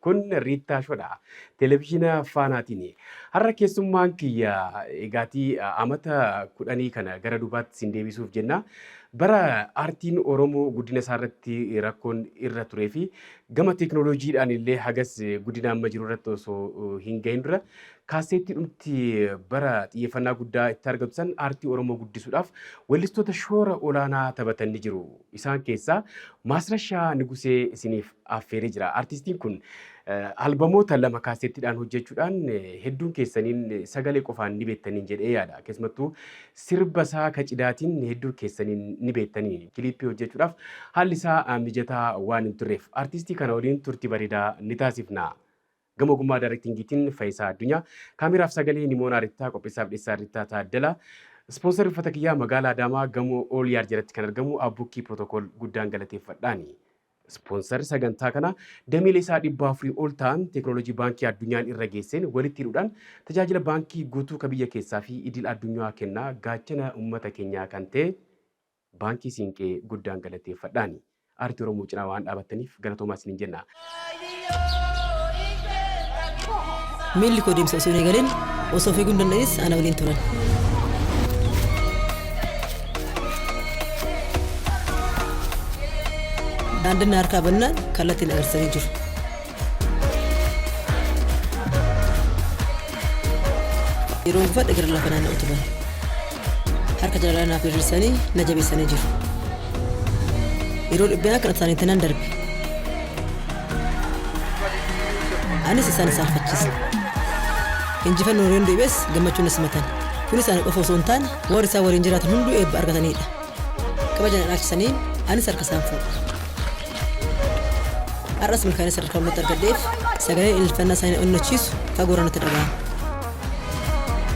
Kun Riittaa Shodha. Televizhiina Faanaatiin. Har'a keessummaan kiyya egaatii amata kudhanii kana gara dubaatti sin deebisuuf jenna. Bara aartiin Oromoo guddina isaa irratti rakkoon irra turee fi gama teeknooloojiidhaan illee hagas guddina amma jiru irratti osoo hin gahin dura kaasseettii dhumti bara xiyyeeffannaa guddaa itti argatu san aartii Oromoo guddisuudhaaf weellistoota shoora olaanaa taphatan ni jiru. Isaan keessaa Maasrashaa Nigusee isiniif affeeree jira. Artistiin kun albamoota lama kaaseettiidhaan hojjechuudhaan hedduun keessaniin sagalee qofaan ni beektaniin jedhee yaada. Keessumattuu sirba isaa kacidaatiin hedduu keessaniin ni beektanii kiliippii hojjechuudhaaf haalli isaa mijataa waan hin turreef artistii kana waliin turtii bareedaa ni taasifna. Gama ogummaa daarektingiitiin Fayisaa Addunyaa, kaameeraaf sagalee Nimoonaa Rittaa, qopheessaaf dhiyeessaa Rittaa Taaddalaa, Ispoonsarri uffata kiyyaa Magaala Adaamaa gamoo All Yard jalatti kan argamu Abbukkii Protocol guddaan galateeffadhaani. Ispoonsarri sagantaa kanaa dameelee isaa 400 ol ta'an teeknooloojii Baankii Addunyaan irra geesseen walitti hidhuudhaan tajaajila baankii guutuu ka biyya keessaa fi idil addunyaa kennaa gaachana ummata keenyaa kan ta'e Baankii Siinqee guddaan galateeffadhaani. Aartii Oromoo cinaa waan dhaabattaniif galatoomaa isiniin jenna. Miilli koo deemsa osoo hin eegalin osoo fiiguu hin danda'inis ana waliin turan. Daandiin na harkaa bannaan kallattiin agarsiisanii jiru. Yeroon gufadhe gara lafa naanna'u turan. Harka jaalalaa naaf diriirsanii na jabeessanii jiru. Yeroo dhibbiin akka isaanii tanan darbe. Anis isaan isaan fachiise. Injifannoo yeroo deebi'es gammachuun na simatan. Kun isaanii qofa osoo hin taane warri isaan waliin jiraatan hunduu eebba argatanidha. Kabaja na dhaalchisanii anis harka isaan fuudhe. Har'as milkaa'ina sadarkaa hundatti argadheef sagaleen ililfannaa isaanii na onnachiisu fagoorraa natti dhaga'ama.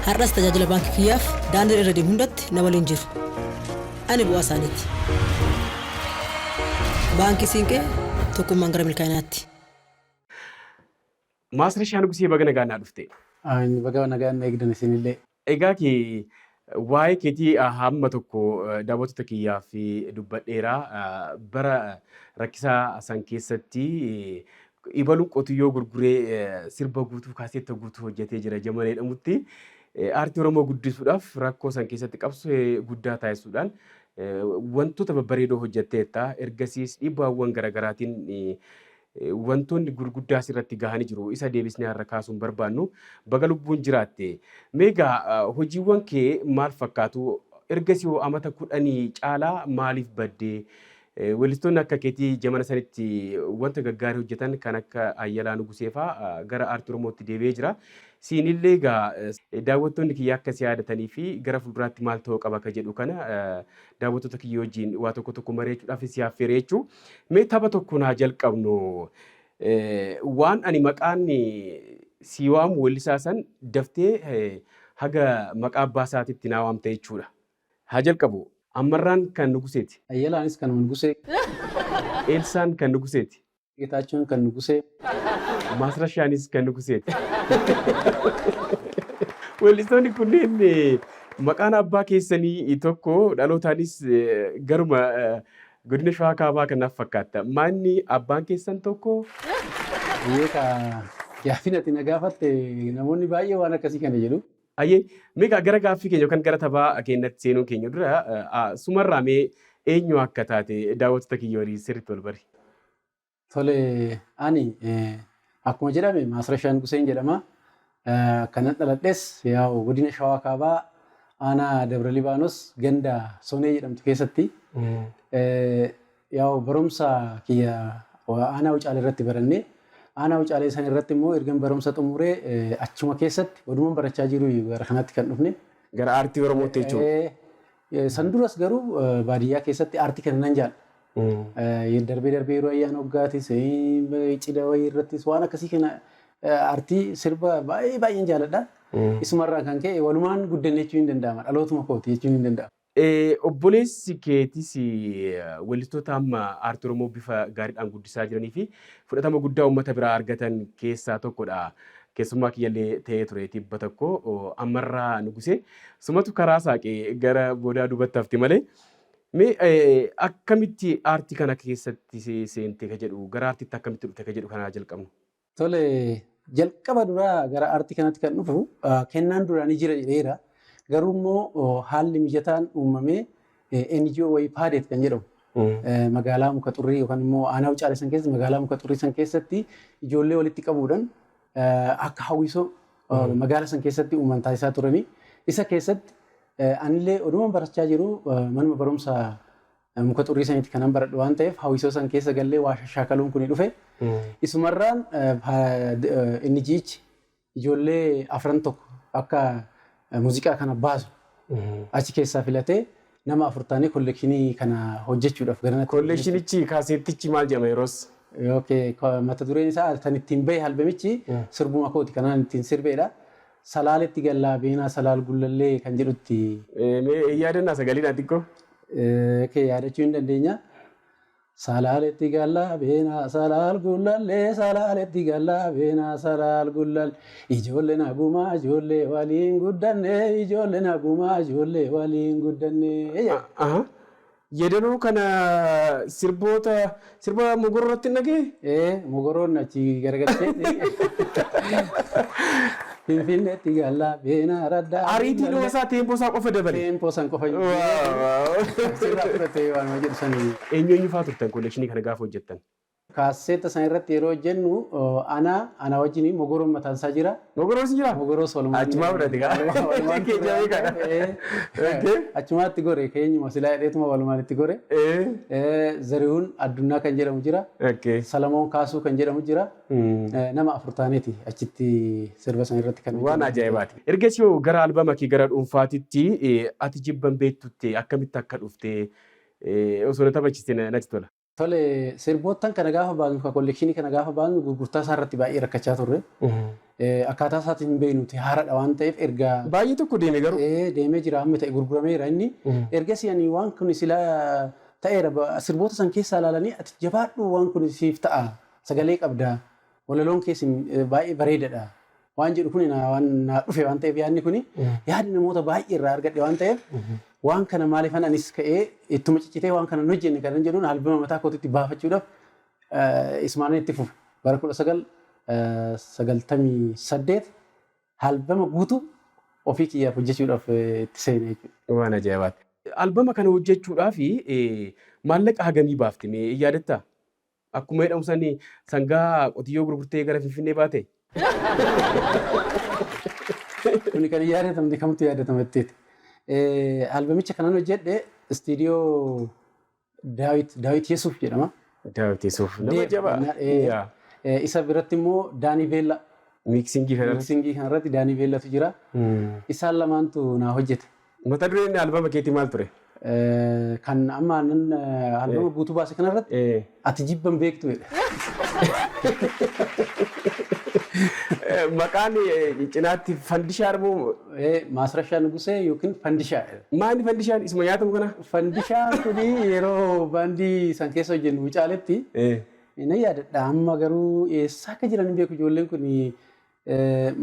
Har'as tajaajila baankii kiyyaaf daandiin irra deemu hundatti na waliin jiru. Ani bu'aa isaaniiti. Baankii Siinqee tokkummaan gara milkaa'inaatti. Maasrashaa Nugusee baga nagaan naa dhuftee. Ameen baga nagaan na eegdan isinillee. Egaa ki waa'ee keetii hamma tokko daawwattoota kiyyaaf dubbadheera. Bara rakkisaa san keessatti ibaluun qotiyyoo gurguree sirba guutuu kaaseetta guutuu hojjetee jira Jamala jedhamutti. Aartii Oromoo guddisuudhaaf rakkoo san keessatti qabsoo guddaa taasisuudhaan wantoota babbareedoo hojjetteetta. Ergasiis dhiibbaawwan garaagaraatiin Wantoonni gurguddaa sirratti gahani jiru. Isa deebisnee har'a kaasuu hin barbaannu. Baga lubbuun jiraatte. Mee egaa hojiiwwan kee maal fakkaatu? Ergasii hoo amata kudhanii caalaa maaliif badde? Weellistoonni akka keetii jamana sanitti wanta gaggaarii hojjetan kan akka Ayyalaa Nugusee faa gara aartii Oromootti deebi'ee jira. Siinillee egaa daawwattoonni kiyya akka si yaadatanii fi gara fuulduraatti maal ta'uu qaba akka jedhu kana daawwattoota kiyya wajjin waa tokko tokko mari'achuudhaaf si affeere jechuu. Mee tapha tokko naa jalqabnu. Eh, Waan ani maqaan si waamu weellisaa san daftee eh, haga maqaa abbaa isaatitti naa waamta jechuudha. Haa jalqabu. Ammarraan kan nuguseeti. Ayyalaanis kanuma nugusee. Eelsaan kan nuguseeti. Geetaachoon kan nugusee. Maasrashaanis kan nuguseeti. Weellistoonni kunneen eh, maqaan abbaa keessanii eh, tokko dhalootaanis eh, garuma eh, godina shawaa kaabaa kanaaf fakkaatta. Maanni abbaan keessan tokko Egaa gaaffiin ati na gaafatte namoonni baay'ee waan akkasii kana jedhu. Hayyee, mee egaa gara gaaffii keenya yookaan gara tapha keenyatti seenuu keenya dura sumarraa mee eenyu akka taate daawwattoota kiyya waliin sirriitti wal bari. Tole, ani akkuma jedhame Maasrashaan Guseen jedhama. Kanan dhaladhes yaa'u godina Shawaa Kaabaa aanaa Dabra Libaanos ganda Sonee jedhamtu keessatti. Yaa'u barumsa kiyya Aanaa Wucaalee irratti baranne. Aanaa Wucaalee san irratti immoo ergan barumsa xumuree achuma keessatti oduman barachaa jiru gara kanatti kan dhufne. Gara aartii Oromootti jechuudha. Ee, San duras garuu baadiyyaa keessatti aartii kana nan jaalla. Darbee darbee yeroo ayyaana hoggaatis, cidha wayii irrattis waan akkasii kana aartii sirba baay'ee baay'een jaaladha. Isumarraan kan ka'e walumaan guddanne jechuun hin danda'ama. Dhalootuma kooti jechuun hin danda'ama. Ee obboleessi keetis weellistoota amma aartii Oromoo bifa gaariidhaan guddisaa jiranii fi fudhatama guddaa uummata biraa argatan keessaa tokkodha. Keessummaa kiyyallee ta'ee ture tibba tokko Ammarraa Nugusee. Sumatu karaa saaqe gara boodaa duubatti hafte malee. Mee akkamitti aartii kana keessatti seente ka jedhu gara aartiitti akkamitti dhufte ka jedhu kanaa jalqabna. Tole jalqaba duraa gara arti kanatti kan dhufu kennaan duraanii jira jedheera. Garuu immoo haalli mijataan uumamee NGO wayii paadeet kan jedhamu magaalaa muka xurrii yookaan immoo aanaa Wucaalee san keessatti magaalaa muka xurrii san keessatti ijoollee walitti qabuudhaan akka hawwisoo magaala san keessatti uuman taasisaa turanii isa keessatti anillee odumaan barachaa jiru manuma barumsa An muka xurrii sanitti kanan baradhu waan ta'eef hawisoo san keessa gallee waa shashaakaluun kuni dhufe. Isumarraan inni ji'ichi ijoollee afran tokko akka muuziqaa kana baasu achi keessaa filatee nama afur taanee kolleekshinii kana hojjechuudhaaf garanatti. Kolleekshinichi kaaseettichi maal jedhama yeroos? Okay, mata dureen isaa kan ittiin bahe albamichi sirbuma kooti kanaan ittiin sirbeedha. Salaaletti gallaa beenaa Salaal Gullallee kan jedhutti. Mee hin yaadannaa sagalee naa xiqqoo? Okay yaadachuu hin dandeenya. Salaaletti gallaa beenaa Salaal Gullallee Salaaletti gallaa beenaa Salaal Gullallee Ijoolleen agumaa ijoollee waliin guddannee Ijoolleen agumaa ijoollee waliin guddannee. Ahaa. Yedanoo kana sirboota sirba mogoroo irratti hin dhagee? Ee mogoroon achi garagaltee Finfinneetti gallaa beenaa raddaa. Ariitii dhuma isaa teempoo isaa qofa dabale. Teempoo san qofa Waaw, waaw. sirraa fudhatee waanuma jedhu sanii. Eenyu eenyu fa'aa turtan kollekshinii kana gaafa hojjettan? Kaasseetta sana irratti yeroo jennu ana ana wajjin mogoroon mataan isaa jira. Mogoroos jira? Mogoroos walumaan. Achumaa fudhate kaa. Walumaan Kee jabee kana. Okay. Achumaatti gore keenyuma silaa hidheetuma walumaan itti gore. Zarihuun Addunnaa kan jedhamu jira. Okay. Salamoon Kaasuu kan jedhamu jira. Nama afur taaneeti achitti sirba sana irratti kan Waan ajaa'ibaati. Ergasii hoo gara albama kee gara dhuunfaatitti ati jibban beektutti akkamitti akka dhufte osoo na taphachiiste natti tola. Tole sirboottan kana gaafa baasnu yookaan kollekshinii kana gaafa baasnu gurgurtaa isaa irratti baay'ee rakkachaa turre. Akkaataa isaatiin hin beeknuti haaradha waan ta'eef erga Baay'ee tokko deeme garuu. ee deemee jira amma ta'e gurgurameera inni. Ergasii ani waan kun sila ta'eera ba- sirboota san keessaa ilaalanii ati jabaadhu waan kun siif ta'a sagalee qabda walaloon kees hin- baay'ee bareedadha waan jedhu kun waan naa dhufe waan ta'eef yaadni kun yaadni namoota baay'ee irraa argadhe waan ta'eef waan kana maaliifan anis ka'ee ittuma ciccitee waan kana hin hojjenne kanan jedhuun albama mataa kootitti baafachuudhaaf ismaanan itti fufe bara kudha sagal sagaltamii saddeet albama guutuu ofii kiyyaaf hojjechuudhaaf itti seene jechuudha. Waan ajaa'ibaati. Albama kana hojjechuudhaaf maallaqa hagamii baafte mee yaadattaa? Akkuma jedhamu sani sangaa qotiyyoo gurgurtee gara Finfinnee baate. Kuni kan hin yaadatamne kamtu yaadatama jetteeti. Albamicha kanan hojjedhe istiidiyoo Daawit Daawit Yesuuf jedhama. Daawit Yesuuf nama Deev jabaa. na- eh, Yaa. eh, Isa biratti immoo Daanii Beella. Miiksingii kanarratti. Miksingii kanarratti Daanii Beellatu jira. Isaan lamaantu naa hojjete. Mata dureen albama keetii maal ture? Kan amma aannan albama guutuu baase kanarratti ati jibban beektu jedha. Maqaan cinaatti fandishaa moo? Maasrashaa Nugusee yookiin fandishaa. Maali fandishaan isuma nyaatamu kana? Fandishaan kuni yeroo baandii san keessa hojjennu Wucaaletti na yaadadha amma garuu eessaa akka jiran hin beeku ijoolleen kun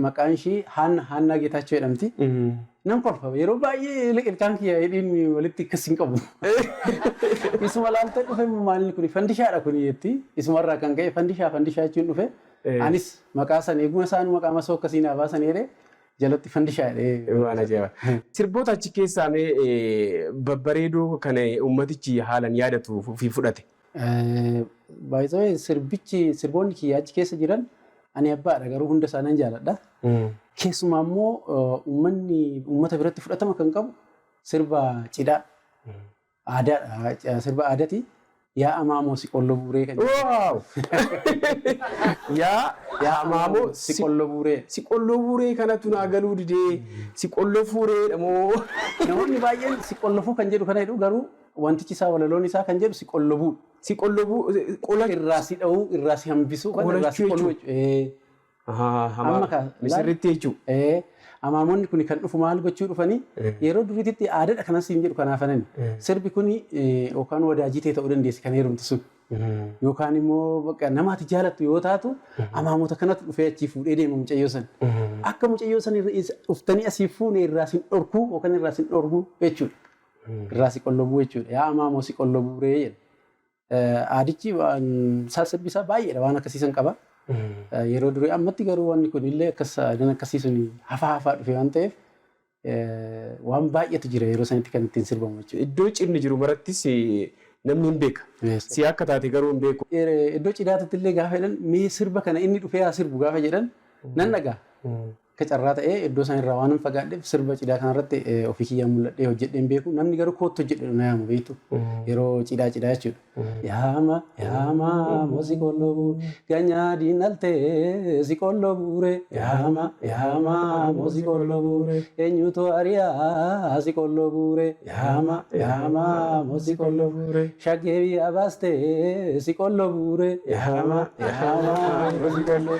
maqaan ishii Haanna Haannaa Geetaachoo jedhamti. Nan kolfa yeroo baay'ee ilkaan kiyya hidhiin walitti akkas hin qabu. Isuma laaltee dhufe maalli kun fandishaadha kun jetti. Isumarraa kan ka'e fandishaa fandishaa jechuun dhufe. Anis maqaa san eeguma isaanu maqaa masoo akkasii naa baasan jedhee jalatti fandishaa jedhee. Waan ajaa'iba. Sirboota achi keessaa mee babbareedoo kan uummatichi haalan yaadatu fi fudhate By the way sirbichi sirboonni kiyya achi keessa jiran ani abbaadha garuu hunda isaa nan jaaladha. Keessumaa immoo uummanni uummata biratti fudhatama kan qabu sirba cidhaa aadaadha sirba aadati yaa amaamoo si qollo buuree kan Wow! Yaa yaa amaamoo si si qollo buuree. si qolloo fuuree kanatu naa galuu didee si qolloo fuureedha moo Namoonni baay'een si qollofuu kan jedhu kana jedhu garuu Wantichi isaa walaloon isaa kan jedhu si qollobuudha. Si qollobuu qola irraa si dha'uu irraa si hambisuu kan irraa si qoluu jechuudha. Amma kaa misirritti jechuudha. Amaamonni kun kan dhufu maal gochuu dhufanii yeroo duriititti aadaadha kanas siin jedhu kanaaf anani. Sirbi kun yookaan wadaajii ta'e ta'uu dandeessi kan heerumtu sun. Yookaan immoo bakka nama ati jaalattu yoo taatu amaamota kanatu dhufee achii fuudhee deema mucayyoo san. Akka mucayyoo san dhuftanii asii fuune irraa sin dhorkuu yookaan irraa sin dhorkuu jechuudha. Irraa si qollobuu jechuudha. Yaa amaa moo si qollobuu ree jedha. Aadichi sirbi isaa baay'eedha waan akkasii san qaba. Yeroo durii ammatti garuu wanni kun illee akkas aadaan akkasii sun hafaa hafaa dhufe waan ta'eef waan baay'eetu jira yeroo sanitti kan ittiin sirbamu jechuudha. Iddoo cidhni jiru marattis namni hin beeka. Si akka taate garuu hin beeku. Iddoo cidhaatitti illee gaafa jedhan mee sirba kana inni dhufee haa sirbu gaafa jedhan nan dhaga'a. Akka carraa ta'ee iddoo san irraa waanan fagaadheef sirba cidhaa kanarratti ofii kiyyaan mul'adhee hojjedhee hin beeku. Namni garuu koottu hojjedhu na yaama beektu. Yeroo cidhaa cidhaa jechuudha. Yaama yaama moo si qolloo buure ganyaa diinaltee si qolloo buure yaama yaama moo si qolloo buure eenyutu ariyaa si qolloo buure yaama yaama moo si qolloo buure shaggee biyyaa baastee si qolloo buure yaama yaama moo si qolloo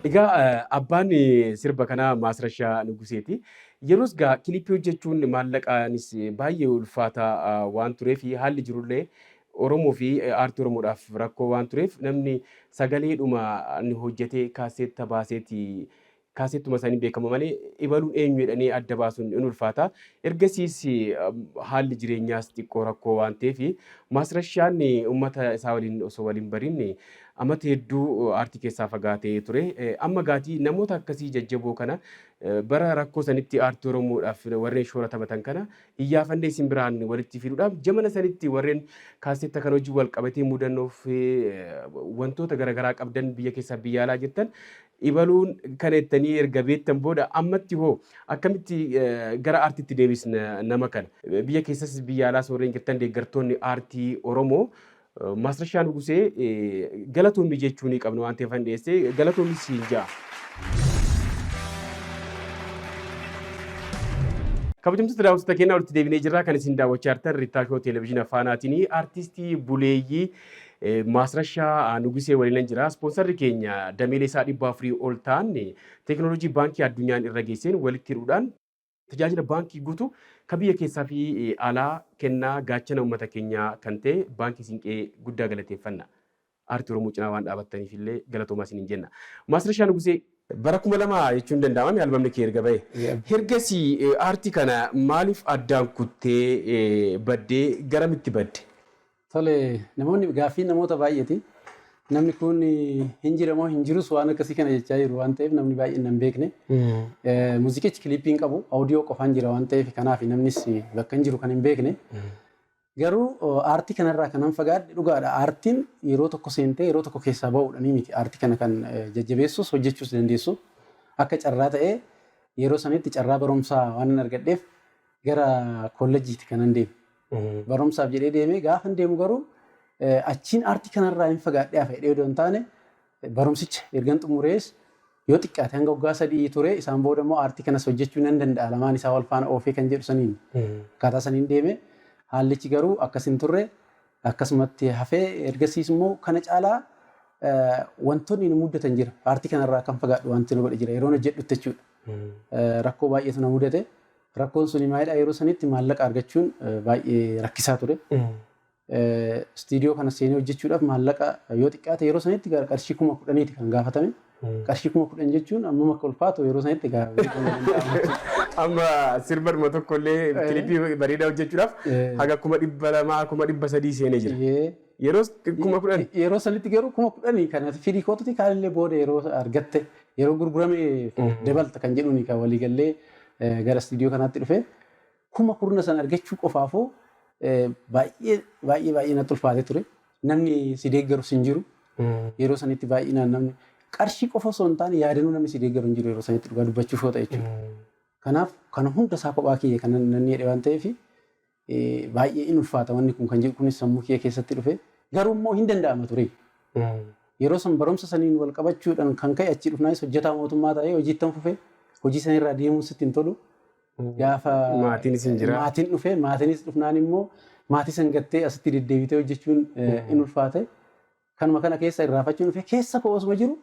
Egaa abbaan sirba kanaa Maasrashaa Nuguseeti. Yeroos gaa kilippii hojjechuun maallaqaanis baay'ee ulfaataa waan tureef haalli jirullee Oromoo fi aartii Oromoodhaaf rakkoo waan tureef namni sagaleedhuma ni hojjetee kaaseetta baaseeti kaaseettuma isaanii beekama malee ibaluun eenyu jedhanii adda baasuun in ulfaata. Ergasiis haalli jireenyaas xiqqoo rakkoo waan ta'eef maasrashaan uummata isaa waliin osoo waliin bariin Amati hedduu aartii keessaa fagaatee ture. Amma gaatii namoota akkasii jajjaboo kana bara rakkoo sanitti aartii Oromoodhaaf warreen shoora taphatan kana iyyaafannee isin biraan walitti fiduudhaaf jamana sanitti warreen kaasetta kan hojii wal qabatee mudannoof wantoota garaagaraa qabdan biyya keessaa biyya alaa jirtan ibaluun kana jettanii erga beektan booda ammatti hoo akkamitti gara aartiitti deebisna nama kana biyya keessas biyya alaas warreen jirtan deeggartoonni aartii Oromoo Maasrashaa Nugusee galatoomi jechuu ni qabna waan ta'eefan dhiyeessee galatoomi siin ja'a. Kabajamtoota daawwattoota keenya walitti deebinee jirra kan isin daawwachaa jirtan Riittaa Shoo Televezyiina Faanaatiin artistii buleeyyii Maasrashaa Nugusee waliin jira. Ispoonsarri keenya dameelee isaa dhibba afurii ol ta'an teekinooloojii baankii addunyaan irra geesseen walitti hidhuudhaan Tajaajila baankii guutuu ka biyya keessaa fi alaa kennaa gaachana ummata keenyaa kan ta'e Baankii Siinqee guddaa galateeffanna. Aartii Oromoo cinaa waan dhaabattaniif illee galatoomaa isiniin jenna. Maasrashaa Nugusee. Bara 2000 jechuun danda'ama mee albamni kee erga bahe. Ergasii aartii kana maaliif addaan kuttee baddee garamitti badde? Tole namoonni gaaffii namoota baay'eeti. Namni kun hin jira moo hin jirus waan akkasii kana jechaa jiru waan ta'eef namni baay'een nan beekne. Muuziqichi kiliippii hin qabu audio qofaan jira waan ta'eef kanaaf namnis bakka hin jiru kan hin beekne. Garuu aartii kanarraa kanan fagaadhe dhugaadha aartiin yeroo tokko seentee yeroo tokko keessaa ba'uudha ni miti aartii kana kan jajjabeessus hojjechuus dandeessu akka carraa ta'ee yeroo sanitti carraa barumsaa waan hin argadheef gara koolleejjiitti kanan deeme. Barumsaaf jedhee deemee gaafan deemu garuu achiin aartii kanarraa hin fagaadhee hafe jedhee odoo hin taane barumsicha ergan xumurees yoo xiqqaate hanga waggaa sadii ture isaan booda immoo aartii kanas hojjechuu nan danda'a lamaan isaa wal faana oofee kan jedhu saniin akkaataa saniin deeme haallichi garuu akkas hin turre akkasumatti hafee ergasiis immoo kana caalaa wantoonni nu mudatan jira aartii kanarraa kan fagaadhu wanti nu godhe jira yeroo hojjedhutti jechuudha rakkoo baay'eetu na mudate. Rakkoon suni maalidha yeroo sanitti maallaqa argachuun baay'ee rakkisaa ture. Istiidiyoo kana seenee hojjechuudhaaf maallaqa yoo xiqqaate yeroo sanitti gara qarshii kuma kudhaniiti kan gaafatame. Qarshii kuma kudhan jechuun ammam akka ulfaatu yeroo sanitti egaa beekuun ni danda'ama jechuudha. Amma sirbadhuma tokkollee kilipii bareedaa hojjechuudhaaf haga kuma dhibba lamaa kuma dhibba sadii seenee jira. Eeyyee. Yeroos kuma kudhan. Yeroo sanitti garuu kuma kudhanii kana fidii kootuti kaanillee booda yeroo argatte yeroo gurgurame dabalta kan jedhuuni kan walii gallee gara studio kanaatti dhufe kuma kurna san argachuu qofaafuu baay'ee baay'ee baay'ee natti ulfaatee ture. Namni si deeggarus hin jiru. Yeroo sanitti baay'inaan namni qarshii qofa osoo hin taane yaadanuu namni si deeggaru hin jiru yeroo sanitti dhugaa dubbachuuf yoo ta'e jechuudha. Kanaaf kana hunda isaa kophaa kiyya kan nanni jedhe waan ta'eef baay'ee in ulfaata wanni kun kan jedhu kunis sammuu kiyya keessatti dhufe. Garuu immoo hin danda'ama ture. Yeroo san barumsa saniin wal qabachuudhaan kan ka'e achii dhufnaanis hojjetaa mootummaa ta'ee hojiittan fufe. Hojii sanirraa deemuun sitti hin tolu. Gaafa Maatiinis hin jira. maatiin dhufe maatiinis dhufnaan immoo maatii san gattee asitti deddeebitee hojjechuun eh, in ulfaate. Kanuma kana keessa irraafachuun dhufe keessa koo osuma jiru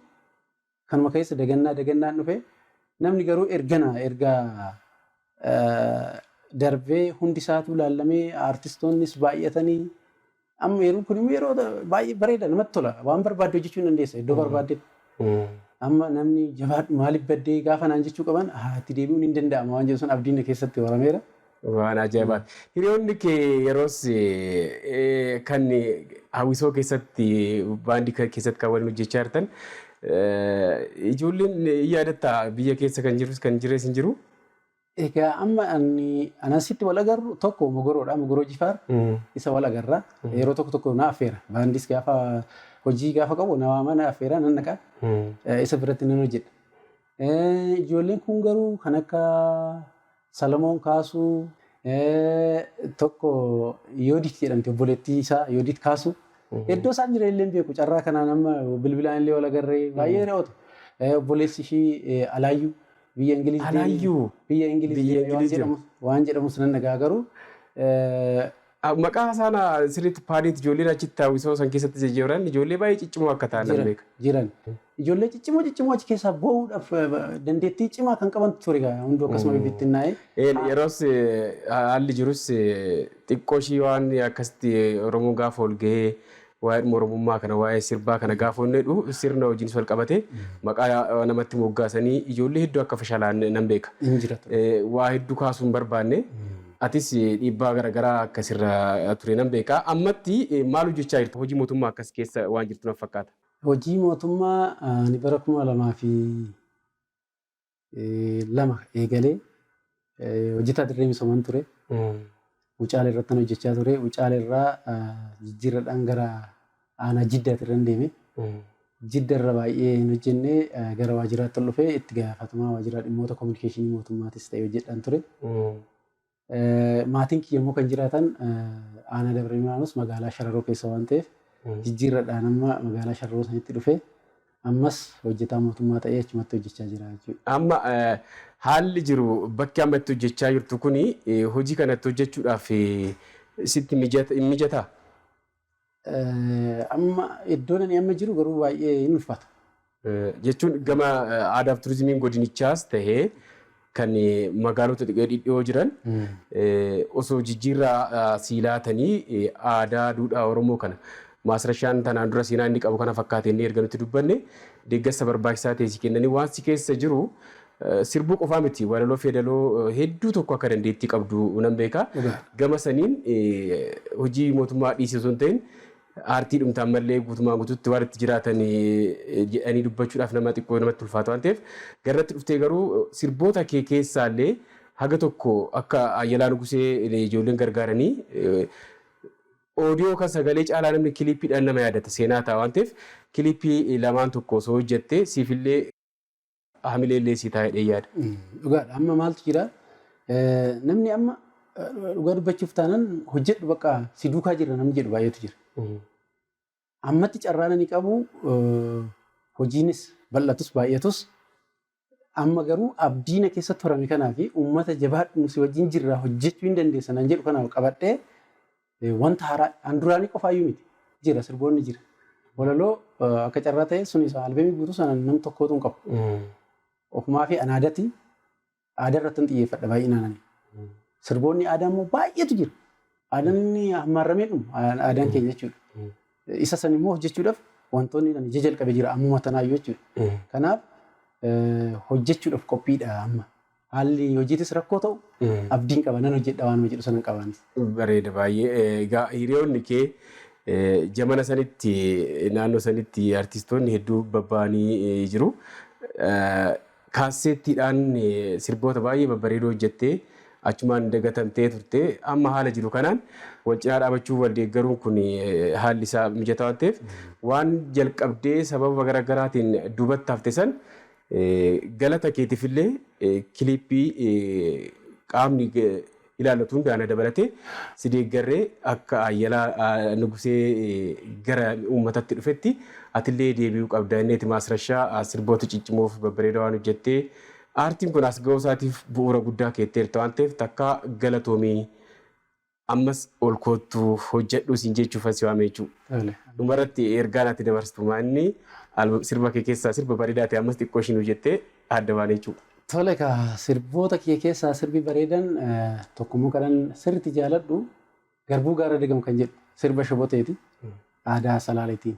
kanuma keessa dagannaa dagannaan dhufe namni garuu ergana erga darbee hundi isaatuu laallamee aartistoonnis baay'atanii amma yeroo kun immoo yeroo baay'ee bareeda namatti tola waan barbaadde hojjechuu hin dandeessa iddoo barbaaddetti. Amma namni jabaadhu maaliif baddee gaafa naan jechuu qaban itti deebi'uun hin danda'ama waan jedhu sun abdiin na keessatti horameera. Waan ajaa'ibaati. Hiriyoonni kee yeroos kan hawwisoo keessatti baandii keessatti kan waliin hojjechaa jirtan ijoolleen yaadatta biyya keessa kan jirus kan jires hin jiru. Egaa amma anasitti wal agarru tokko mogoroodha mogoroo jifaar isa wal agarra yeroo tokko tokko na affeera baandiis gaafa hojii gaafa qabu na waama na affeera nan dhaqa isa biratti nan hojjedha. Ijoolleen kun garuu kan akka Salamoon Kaasuu, tokko Yoodit jedhamti obboleettii isaa Yoodit Kaasuu. Iddoo isaan jiran illee hin beeku. Carraa kanaan amma bilbilaan illee wal agarree baay'ee re'oota. Obboleessi ishii Alaayyuu biyya Ingiliiz deemee- Alaayyuu. biyya Ingiliiz Biyya deemee waan Ingiliiz jedhamu waan jedhamus nan dhagaa garuu Ah, Maqaa sana sirriitti paadiitti ijoolleen achitti taa'u isoo san keessatti jijjiiran ijoollee baay'ee ciccimoo akka ta'an nan jiran beeka. jiran Ijoollee ciccimoo ciccimoo achi keessaa ba'uudhaaf dandeettii cimaa kan qabantu ture gaa hunduu akkasuma bibittinnaa'ee. Een yeroos haalli jirus xiqqoo ishii waan akkasitti Oromoon gaafa ol gahee waa'ee Oromummaa kana waa'ee sirbaa kana gaafa onnee dhufu sirna wajjinis wal qabatee maqaa namatti moggaasanii ijoollee hedduu akka fashalaan nan beeka. Hin jira ture. Waa hedduu kaasuu hin barbaanne. Atis dhiibbaa garaagaraa akka sirra ture nan beeka. Ammatti maal hojjechaa jirta? Hojii mootummaa akkas keessa waan jirtu naf fakkaata. Hojii mootummaa ani bara 2002 eegalee hojjetaa dirree misooman ture. Wucaalee irrattan hojjechaa ture. Wucaalee irraa jijjiirradhaan gara aanaa Jiddaati irran deeme. Jidda irra baay'ee hin hojjenne gara waajjiraatti ol dhufee itti gaafatamaa waajjiraa dhimmoota kominikeeshinii mootummaatis ta'e hojjedhaan ture. Maatiin kiyya immoo kan jiraatan aanaa Dabre Libaanoos magaalaa Shararoo keessa waan ta'eef jijjiirradhaan amma magaalaa Shararoo sanitti dhufe ammas hojjetaa mootummaa ta'ee achumatti hojjechaa jira jechuudha. Amma haalli jiru bakki amma itti hojjechaa jirtu kuni hojii kana itti hojjechuudhaaf sitti mijataa? Amma iddoon ani amma jiru garuu baay'ee hin ulfaata. Jechuun gama aadaaf turizimiin godinichaas tahee kan magaalota xiqqoo dhidhiyoo jiran osoo jijjiirraa sii laatanii aadaa duudhaa Oromoo kana maasrashaan tanaan dura seenaa inni qabu kana fakkaate inni erga nutti dubbanne deeggarsa barbaachisaa ta'e si kennanii waan si keessa jiru Sirbuu qofaa miti walaloo fi yeedaloo hedduu tokko akka dandeettii qabdu nan beeka. Dhugaa. Gama saniin eh, hojii mootummaa dhiisii osoo hin ta'in aartii dhumta ammallee guutumaan guututti waan itti jiraatan eh, jedhanii dubbachuudhaaf nama xiqqoo namatti ulfaata waan ta'eef garratti dhuftee garuu eh, sirboota kee keessaallee haga tokko akka Ayyalaa Nugusee eh, ijoolleen gargaaranii eh, oodiyoo kan sagalee caalaa namni kiliippiidhaan nama yaadata seenaa ta'a waan ta'eef kiliippii lamaan tokko osoo hojjette siifillee Haamilee illee sii ta'a jedhee yaada. Dhugaadha amma maaltu jira namni amma dhugaa dubbachuuf taanan hojjedhu bakka si duukaa jirra namni jedhu baay'eetu jira. Ammatti carraan ani qabu hojiinis bal'atus baay'atus amma garuu abdii na keessa turame kanaa fi uummata jabaadhu si wajjin jirra hojjechuu hin dandeessa naan jedhu kana qabadhee Wanta haaraa an duraanii qofaayyuu miti jira sirboonni jira. Walaloo akka carraa ta'e sunis albeemii guutuu sana nam tokkootu hin qabu. Ofumaa fi an aadati aadaa irratti xiyyeeffadha baay'inaan ani. Sirboonni aadaa immoo baay'eetu jira. Aadaan inni hammaaramee dhumu aadaan keenya jechuudha. Isa san immoo hojjechuudhaaf wantoonni ani ija jalqabe jira ammuma tanaayyuu jechuudha. Kanaaf hojjechuudhaaf qophiidha amma. Haalli hojiitis rakkoo ta'u abdiin qaba nan hojjedha waanuma jedhu sanan qaba anis. Bareeda baay'ee. Egaa hiriyoonni kee jamana sanitti naannoo sanitti artistoonni hedduu babba'anii jiru. Kaasseettiidhaan sirboota baay'ee babbareedoo hojjettee achumaan dagatamtee turte. Amma haala jiru kanaan wal cinaa dhaabachuu wal deeggaruun kun haalli isaa mijataa waan ta'eef waan jalqabdee sababa gara garaatiin duubatti hafte san Galata keetifillee kiliippii qaamni ilaallatu hundaa na dabalatee si deeggarree akka Ayyalaa Nugusee gara uummatatti dhufetti atillee deebi'uu qabda inneeti Maasrashaa sirboota ciccimoofi babbareeda waan hojjattee aartiin kun as ga'uu isaatiif bu'uura guddaa keetteerta waan ta'eef takkaa galatoomi ammas ol koottu hojjadhuu siin jechuufan si waame jechuu. Tole. Dhumarratti ergaan ati dabarstu maa inni al- sirba kee keessaa sirba bareedaa ta'e ammas xiqqoo ishii nu jettee adda baane jechuu. Tole egaa sirboota kiyya keessaa sirbi bareedan eh, tokko immoo kanan sirriitti jaaladhu garbuu gaara digam kan jedhu sirba shoboteeti aadaa salaaleetiin.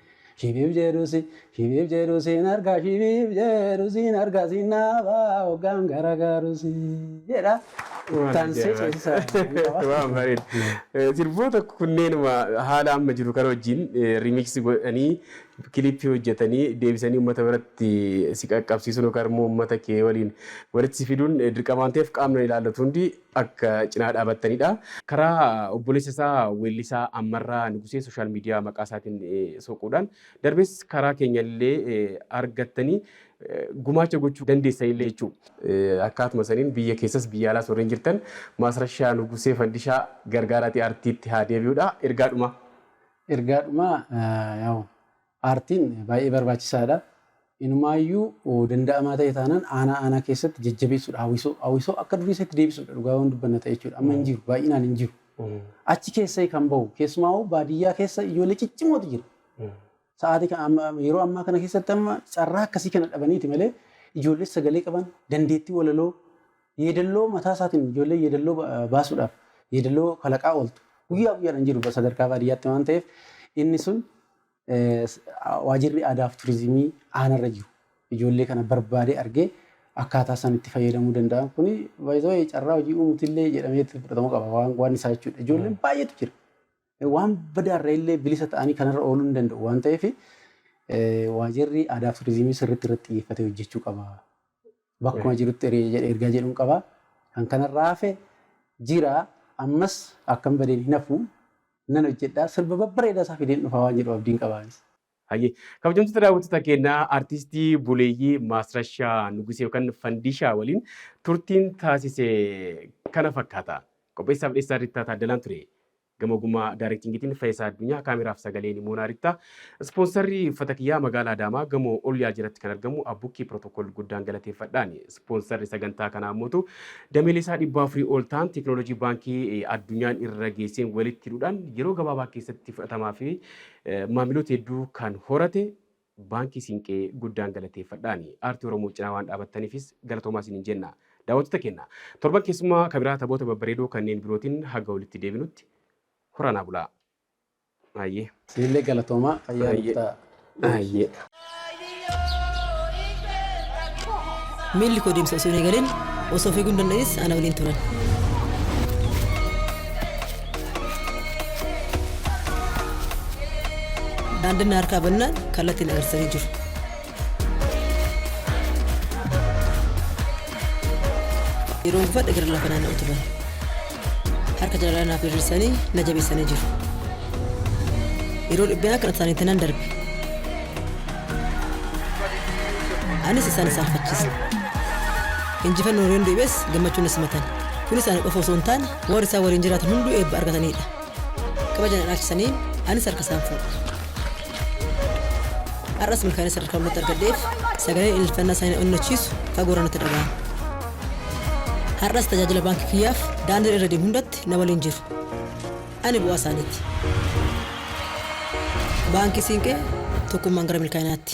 Shibiib jedhu si shibiib jedhu siin argaa shibiib jedhu siin argaa siin naabaa hoggaan garagaaru si jedha. Taansee ceesisaa hin qaba. Waan bareeda. Eh, Sirboota kunneenuma haala amma jiru kana wajjin riimiksii godhanii kilippii hojjetanii deebisanii uummata biratti si qaqqabsiisuun yookaan immoo uummata kee waliin walitti si fiduun eh, dirqamaan ta'eef qaamni ilaallatu hundi akka cinaa dhaabattanidha. Karaa obboleessa isaa weellisaa Ammarraa Nugusee social media maqaa isaatiin soquudhaan darbees karaa keenyallee argattanii gumaacha gochuu dandeessanillee jechuu. Akkaatuma saniin biyya keessas biyya alaas warreen jirtan Maasrashaa Nugusee Fandishaa gargaaraatii artiitti haa deebi'uudha. Ergaa dhumaa. Ergaa dhumaa yaa'u Aartiin baay'ee barbaachisaadha. Inumaayyuu danda'amaa ta'e taanaan aanaa aanaa keessatti jajjabeessuudha. Hawwisoo hawwisoo akka durii isatti deebisuudha dhugaa waan dubbanna ta'e jechuudha. Amma hin jiru baay'inaan hin jiru. Achi keessa kan bahu keessumaa hoo baadiyyaa keessa ijoollee ciccimootu jira. Sa'aatii kan amma yeroo ammaa kana keessatti amma carraa akkasii kana dhabaniiti malee ijoollee sagalee qaban dandeettii walaloo yeedalloo mataa isaatiin ijoollee yeedalloo ba- baasuudhaaf yeedalloo kalaqaa ooltu guyyaa guyyaadhaan jiru sadarkaa baadiyyaatti waan ta'eef inni sun Waajirri Aadaafi Turizimii aanarra jiru ijoollee kana barbaadee argee akkaataa isaan itti fayyadamuu danda'an kuni by the way carraa hojii uumutillee jedhamee itti fudhatama qaba waan, waan isaa jechuudha. Ijoolleen baay'eetu jira. Waan badaarra illee bilisa ta'anii kanarra ooluu hin danda'u waan ta'eef waajirri Aadaafi Turizimii sirriitti irratti xiyyeeffatee hojjechuu qaba. Bakkuma jirutti eree jedhe ergaa jedhun qaba. Kan kanarraa hafe jira ammas akkan badeen hin hafu nan hojjedha sirba babbareedaa isaa fideen dhufa waan jedhu abdiin qaba anis. Hayyee. Kabajamtoota daawwattoota keenya artistii buleeyyii Maasrashaa Nugusee yookaan Fandishaa waliin turtiin taasise kana fakkaata. Qopheessaaf dhiyeessaa Rittaa Taaddalaan ture. Gama ogummaa daarektiingiitiin Fayisaa Addunyaa, kaameraaf sagaleen Moonaa Rittaa. Ispoonsarri uffata kiyyaa magaalaa Adaamaa gamoo Olyaa jiratti kan argamu Abbukkii Protocol guddaan galateeffadha ani. Ispoonsarri sagantaa kanaa ammotu dameelee isaa 400 ol ta'an teeknooloojii baankii addunyaan irra geesseen walitti hidhuudhaan yeroo gabaabaa keessatti fudhatamaa fi maamiloota hedduu kan horate Baankii Siinqee guddaan galateeffadha ani. Aartii Oromoo cinaa waan dhaabattaniifis galatoomaa isiniin jenna. Daawwattoota keenya, torban keessummaa ka biraa taphoota babbareedoo kanneen birootiin haga walitti deebinutti horaa naa bulaa. Hayyee. Isinillee galatoomaa fayyaa nuuf Hayyee. ta'a. Hayyee. Miilli koo deemsa osoo hin eegalin osoo fiiguu hin danda'es ana waliin turan. Daandin na harkaa bannaan kallattiin agarsisanii jiru. Yeroon gufadhe gara lafa naanna'u turan. Harka jalalaan naaf diriirsanii na jabeessanii jiru. Yeroo dhibbeen akka isaaniitti nan darbe. Anis isaan saalfachiise. Injifannoo horiin du'es gammachuun na simatan. Kun isaanii qofa osoo hin taane Warri isaan waliin jiraatan hunduu eebba argatanii dha. Kabaja na dhaalchisanii, anis harka isaan fuudha. Har'as milkaa'ina sadarkaa hundatti argadheef sagaleen ililfannaa isaanii na onnachiisu fagoorra natti dhaga'ama. Har'as tajaajila baankii kiyyaaf daandiin irra deemu hundatti na waliin jiru. Ani bu'aa isaaniiti. Baankii Siinqee tokkummaan gara milkaa'inaatti.